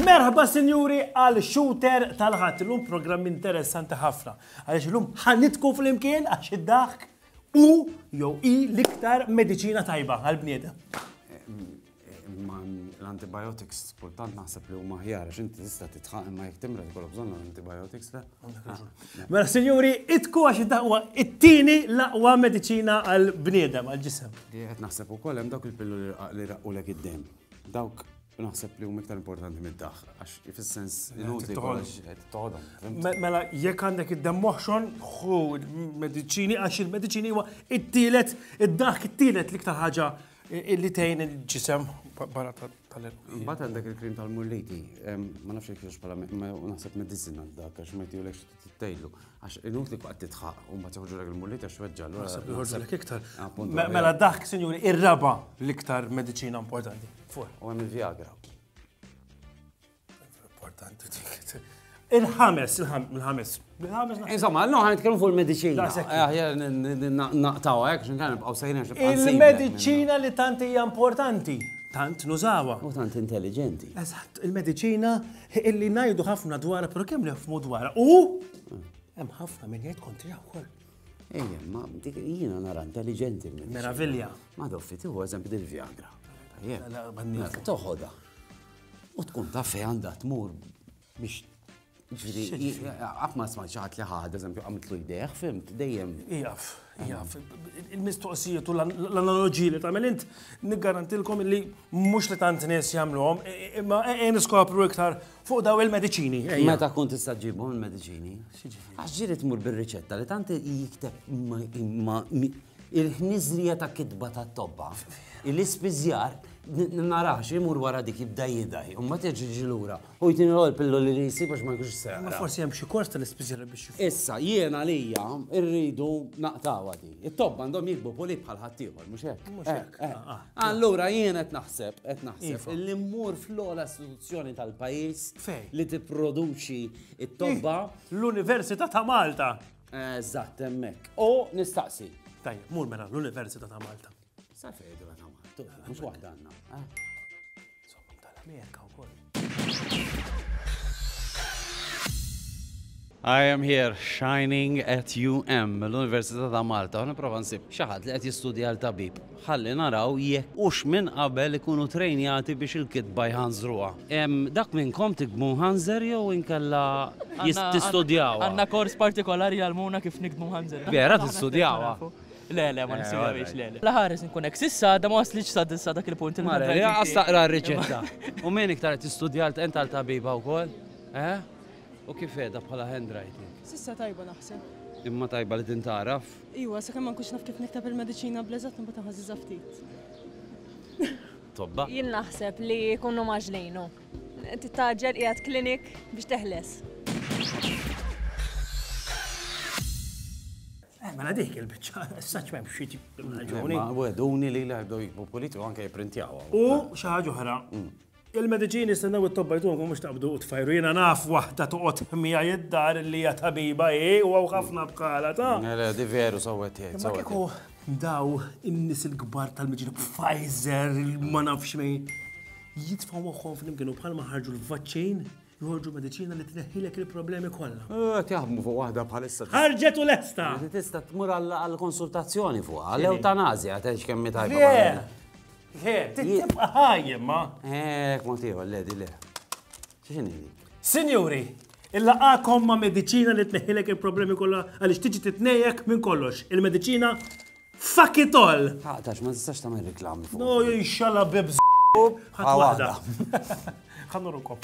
Merħba sinjuri għal shooter tal-ħadd illum programm interessanti ħafna. Għaliex illum ħanitku flimkien għax id-daħk u jew i l-iktar mediċina tajba għal bniedem. Imma l-antibiotics kultant naħseb li huma ħjar għax inti tista' titħaq imma jekk timra tkollok bżonn l-antibiotics le. Ah. Mela sinjuri, itku għax id-daqwa it-tieni l-aqwa mediċina għal bniedem għal ġisem. Qed naħseb ukoll hemm dawk il-pillu li raqqulek id-dem. Dawk naħseb li huma iktar importanti mid-daħ, għax fis-sens inutli toħodhom. Mela jekk għandek id-dem moħxon, hu mediċini għax il-mediċini huwa it-tielet id-daħk it-tielet l-iktar ħaġa Illi tgħin il-ġisem barra tal-erqu. Mbagħad għandek il-krim tal-mulliti, ma nafx jekk jiex bħala naħseb medicina dak għax ma jtijulek tgħidlu. Għax inut li qatt titħaq u ma toħġu lek il-mulliti għax weġġa' l Naħseb joħorġu lek iktar. Mela dak, sinjuri, ir-raba l-iktar mediċina importanti. U hemm il-Viagra. Importanti dik. Il-ħames, il-ħames. Insomma, no, għan nitkellmu fuq il-medicina. Naqtaw, għek, xin kan nibqaw sejna Il-medicina li tant hija importanti, tant nużawa. U tant intelligenti. Eżatt, il-medicina illi najdu ħafna dwar, pero kemm nifmu dwar. U hemm ħafna minn jgħid kontri wkoll. Ejja, ma dik jiena nara intelligenti. Meravilja. Ma doffi tiħu eżempju dil-Viagra. Toħoda. U tkun taf fej għandha tmur biex Għafma sma ċaħat li ħad, eżempju, għamtlu jdejħ, fimt, dejjem. Ijaf, ijaf. Il-mistoqsijiet u l-analogi li tamel int, niggarantilkom li mux li tant nes jamluħom, imma għen skopru iktar fuq daw il-medicini. Meta kun tista ġibhom il-medicini? Għaxġiri tmur bil-riċetta li tant jikteb ma Il-ħniżrija ta' kitba tat-tobba, l-ispiżjar, narax imur wara dik jibda jidgħi, u mbagħad jerġa' jiġi lura. U jtini l-ewwel pilloli li jsib għax ma jkunx se jaqra. Forsi hemm xi kors tal-ispiżjar biex jifhem. Issa, jien għalija rridu naqtgħuha di. It-tobba għandhom jikbu pulib bħal ħaddieħor, mhux hekk? Mhux hekk. Allura jien qed naħseb, qed naħseb li mmur fl-ogħla istituzzjoni tal-pajjiż li tipproduċi t-tobba. L-Università ta' Malta! Eżatt, hemmhekk. U nistaqsi. Tajjeb, mur mela l-Università ta' Malta. Sa fejn ta' Malta, mhux waħda għandna. Eh? Somma tal-Amerika wkoll. I am here shining at UM, l-Università ta' Malta, u niprofa nsib xaħat li qed jistudja għal tabib. Ħalli naraw jekk hux minn qabel ikunu trejnjati biex il-kitba jħanżruha. Hemm dak minnkom tiktbu mħanżer jew inkella tistudjawha? Għandna kors partikolari jgħallmuna kif niktbu mħanżer. Vera tistudjawha? Le, le, ma nistudjawhiex, le, le. La ħares inkun hekk. S'issa għadha ma waslitx sa sa dak il-punt il-handwriting tiegħi. Mara, lanqas taqra r-riċetta. U min iktar qed tistudja int għal tabiba wkoll? Eħe? U kif qiegħda bħala handwriting? S'issa tajba naħseb. Imma tajba li tintgħaraf? Iwa, sakemm ma nkunx naf kif nikteb il-mediċina bl-eżatt imbagħad inħażiżha ftit. Tobba? Jien naħseb li jkunu mgħaġġlin hu. Titgħaġġel qiegħed clinic biex teħles. Eh, mela dik il-biċċa, s-saċ m'hemm xi raġuni. Weduni li l-għardu jikbu politiku anke jipprintjawha. U xi ħaġa oħra, mm. Il-mediċini jistennew it-tobba jdumu mhux taqbdu u tfajru. Jiena naf waħda toqgħod miegħi d-dar li hija tabiba hi u hawn ħafna bħalha ta'. Le, di veru sewwa qed tgħid. Imma kieku daw in-nies il-kbar tal-mediċini Pfizer ma nafx min jitfgħu moħħhom flimkien u bħalma ħarġu l-vaċċin Joħorġu mediċina li tneħħilek il-problemi kollha. Qed jaħdmu fuq waħda bħalissa. Ħarġet u lesta! Tista' tmur għall-konsultazzjoni fuq, għall-eutanazja, għatex kemm mi tajba. He, tibqa ħajjem, ma? He, kmontiħu, l-ledi, le. ċiċini? Sinjuri, il-laqakom ma' medicina li tneħilek il-problemi kollha għaliex tiġi titnejjek minn kollox. Il-medicina Fuck it all! Taqtax, ma tistax tagħmel riklami fuq. No, jinxalla bib Ħadd waħda. Ħannu rukom.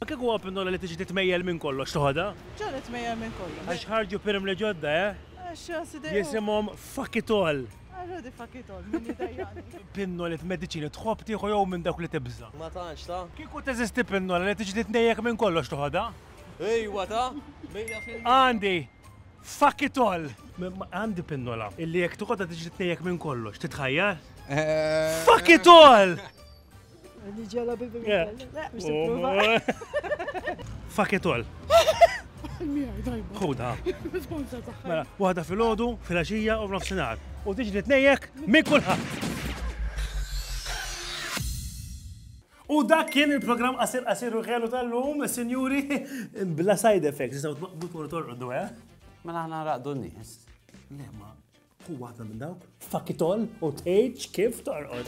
Kieku huwa pinnola li tiġi titmejjel minn kollox toħodha? Ġa nitmejjel minn kollox. Għax ħarġu pirim li ġodda, eh? Għax sidej. Jisimhom fuck it all. Għarrodi fuck it all, minn jidajjani. Pinnolet mediċini tħobb tieħu jew minn dawk li tibża. Ma tantx ta. Kieku teżisti pinnola li tiġi titnejjek minn kollox toħodha? Ejwa ta! Għandi fuck it all! Għandi pinnola illi jekk toqgħodha tiġri tnejjek minn kollox, titħajjar? Eh. Fuck it all! Ġela bibi Fuck it all. Ħuda. Mela, waħda fil-ħodu, fil-axija u f'nofsinhar. U tiġri tnejjek minn kulħadd. U dak kien il-programm qasir qasir u ħelu tal-lum, sinjuri, bla side effects, jistaw tmaqbu tkunu torqdu, eh? Mela ħana raqdu n-nies. Le, ma, hu waħda minn dawk. Fakitol u tgħidx kif torqod.